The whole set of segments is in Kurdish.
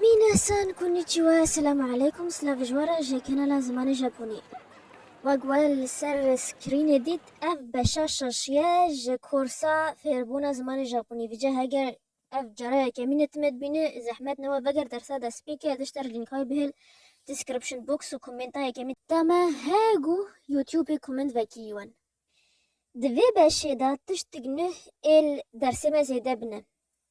Minasan konnichiwa, selam aleykum, silav ji wan re ji kanala Zimanê Japonî. Wek we li ser screenê dît ev beşa şeş ye ji korsa fêrbûna zimanê Japonî. Vije heger ev cara yekemîn e time dibîne, zehmet ne we veger dersa destpêkê ez dişter lînkay bihêl description box û komenta yekemîn. Ta me he gû youtubê koment vekî wan. Di vê beşê de tiştik nuh êl dersê me zêde bine.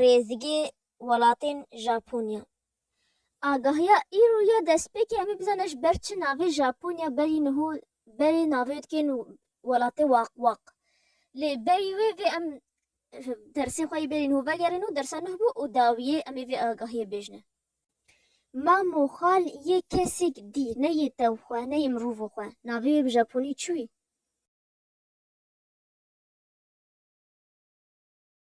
rêzigê welatên Japonya. Agahiya îro ya destpêkê em ê bizane ji ber çi navê Japonya berî niho berê navê dikên welatê waqwaq. Lê berî wê vê em dersên xwe yê berî niho vegerîn û dersa nuh bû û dawiyê em ê vê agahiyê bêjine. Mam û xal yê kesêk dî, ne yê tev xwe, ne yê mirovo xwe. Navê wê bi Japonî çi wî?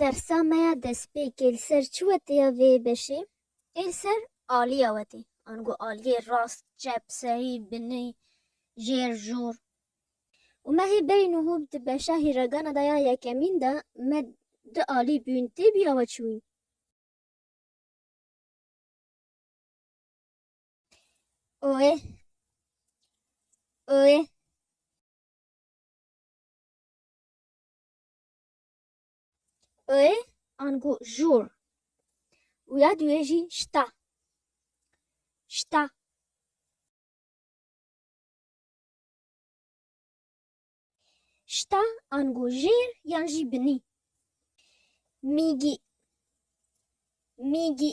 Dersa me ya destpêkê li ser çi wete ya vê beşê? Ê li ser aliya wete. Ango aliyê rast, çep, serî, binî, jêr, jûr. Û me hê berî nuhû di beşa hîregana da ya yekemîn de me du alî bûn tê bî awe çi bûn? Oê Oê. Ê angu jûr. Û ya duye jî şta. Şta. Şta angu jêr yan jî binî. Mîgî. Mîgî.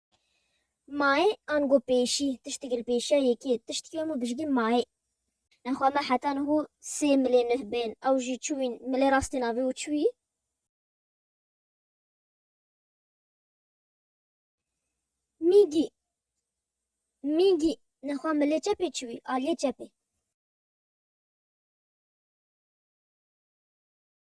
Mayê ango pêşî, tişt digil pêşiya yekê, tişt ki hemû bijgî mayê. Nexwe me heta niho sê milê nuh bên, ew jî çiwîn, milê rastê navê û çiwî. Mîgî, mîgî, nexwe milê çepê çiwî, aliyê çepê.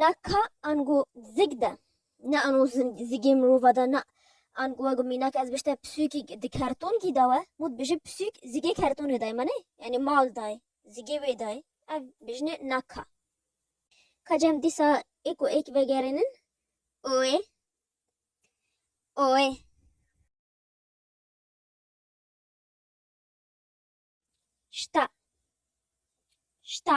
Na ka ango zig de, na ango zigê mirova de, na ango wego mînak ez bişte pisûkî di kertonkî de we, mû dibêje pisûk zigê kertonê dayê me nê, yanî mal dayê, zigê wê dayê, ev bêjinê na ka. Ka cem dîsa êk û êk vegerînin oê, oê. Şta, şta.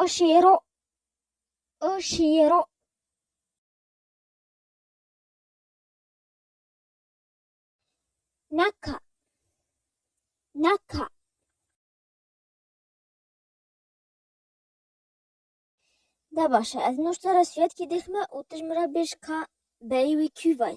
O şêro O şêro Naka Naka Da başa ez nuştara suyetkî dixme û tu ji min re bêj ka beyê wî kî vay.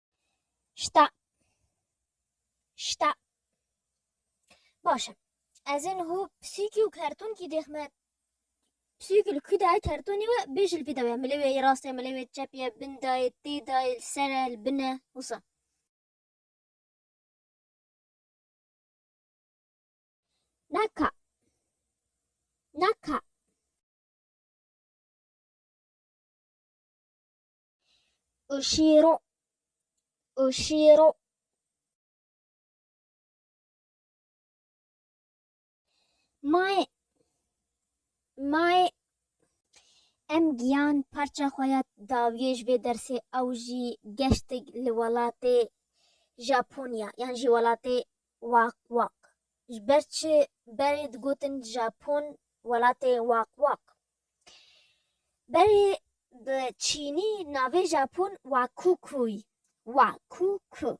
Şta. Şta. Baş e. Ez ê niho pisîkî û kertonkî dêxme. Pisîkî li kû de ye kertonê we bê jî li vî de ye. Milê wê yê rast e, milê wê yê çep e, bin de ye, tê de ye, li ser e, li bin e wisa. Naka. Naka. Oşîro, oşîro. Mayê, mayê. Em giyan parça xwe ya dawiyê ji vê dersê ew jî geştik li welatê Japonya yan jî welatê Wak Wak. Ji ber çi berê digotin Japon welatê Wak Wak? Berê bi çînî navê Japon Wakukuy, Wa Ku Ku,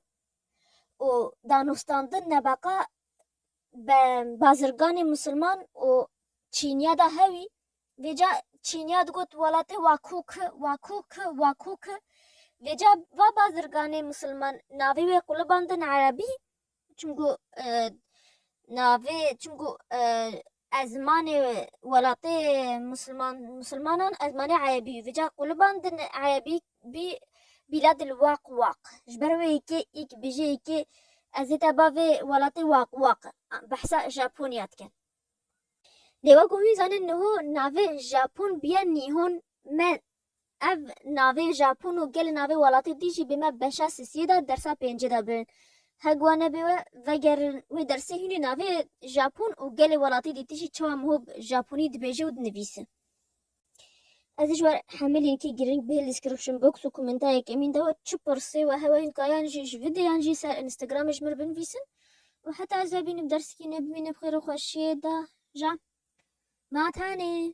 û danûstandin nebeqa be bazirganê musilman û çîniya da hewî. Vê ca çîniya digot welatê Wa Ku Ku, Wa Ku Ku, Wa Ku Ku. Vê ca va bazirganê musilman navê wê qulibandin erebî Çimku navê çimku ez zimanê welatê musilman musilmanan ez zimanê erebî yû vêca qûliban din erebî bî bîla dil waq waq ji ber wê yekê yek bêje yekê ez ê te bavê welatê waq waq behsa Japonya dikin. Dê wek û wî zanîn niho navê Japon bîya Nîhon me Ev navê Japon û gelê navê welatê dî jî bê me beşa sisiyê de dersa pêncê de birin. Heg wa nebê we vegerin wê dersê hûnê navê Japon û gelê welatê dî tijî çawa mihob Japonî dibêje û dinivîse. Ez ji ber hemî lînkê girîng bihê description box û komenta yekemîn de we çi pirsê we hewa hînka yan jî ji videyan jî ser Instagramê ji mir binivîsin û heta ez vebînim dersikê nebimîne bi xêr û xweşiyê de ja. Ma tenê.